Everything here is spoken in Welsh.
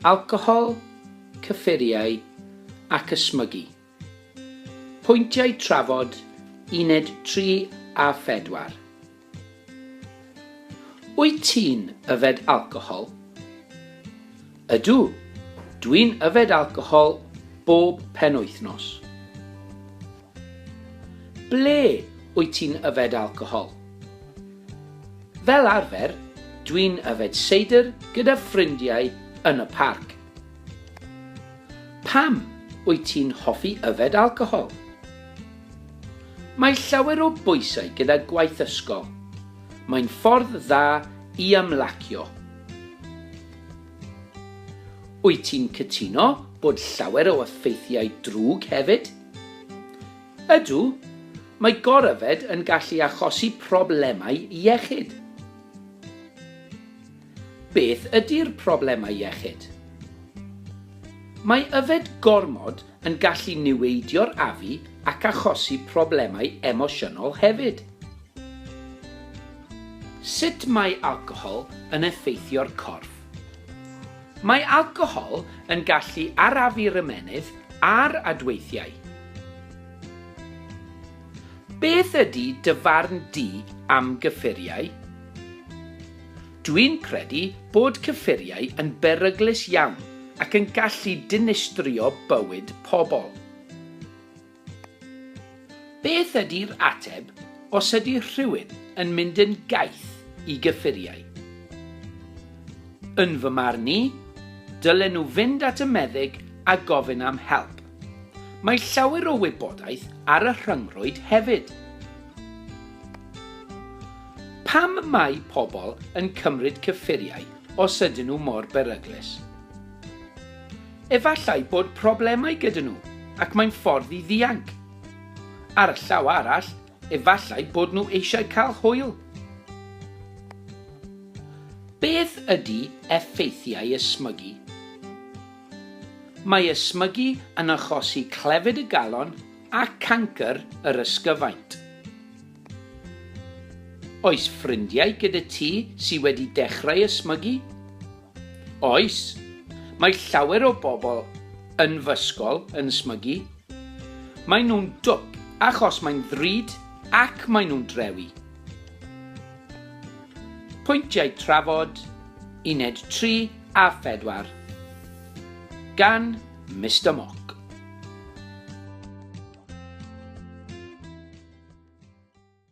Alcohol, cyffuriau ac ysmygu. Pwyntiau trafod uned 3 a 4. Wyt ti'n yfed alcohol? Ydw, dwi'n yfed alcohol bob penwythnos. Ble wyt ti'n yfed alcohol? Fel arfer, dwi'n yfed seidr gyda ffrindiau yn y parc. Pam wyt ti'n hoffi yfed alcohol? Mae llawer o bwysau gyda gwaith ysgol. Mae'n ffordd dda i ymlacio. Wyt ti'n cytuno bod llawer o effeithiau drwg hefyd? Ydw, mae goryfed yn gallu achosi problemau iechyd. Beth ydy'r problemau iechyd? Mae yfed gormod yn gallu niweidio'r afu ac achosi problemau emosiynol hefyd. Sut mae alcohol yn effeithio'r corff? Mae alcohol yn gallu arafu'r ymennydd a'r adweithiau. Beth ydy dy farn di am gyffuriau? Dwi'n credu bod cyffuriau yn beryglus iawn ac yn gallu dinistrio bywyd pobl. Beth ydi'r ateb os ydi rhywun yn mynd yn gaeth i gyffuriau? Yn fy marn i, dylen nhw fynd at y meddyg a gofyn am help. Mae llawer o wybodaeth ar y rhyngrwyd hefyd. Pam mae pobl yn cymryd cyffuriau os ydyn nhw mor beryglus? Efallai bod problemau gyda nhw ac mae'n ffordd i ddianc. Ar y llaw arall, efallai bod nhw eisiau cael hwyl. Beth ydy effeithiau ysmygu? Mae ysmygu yn achosi clefyd y galon a cancr yr ysgyfaint. Oes ffrindiau gyda ti sydd wedi dechrau ysmygu? Oes, mae llawer o bobl yn fy ysgol yn smygu. Maen nhw'n dwp achos mae'n ddrud ac maen nhw'n drewi. Pwyntiau trafod, uned 3 a 4, gan Mister Mock.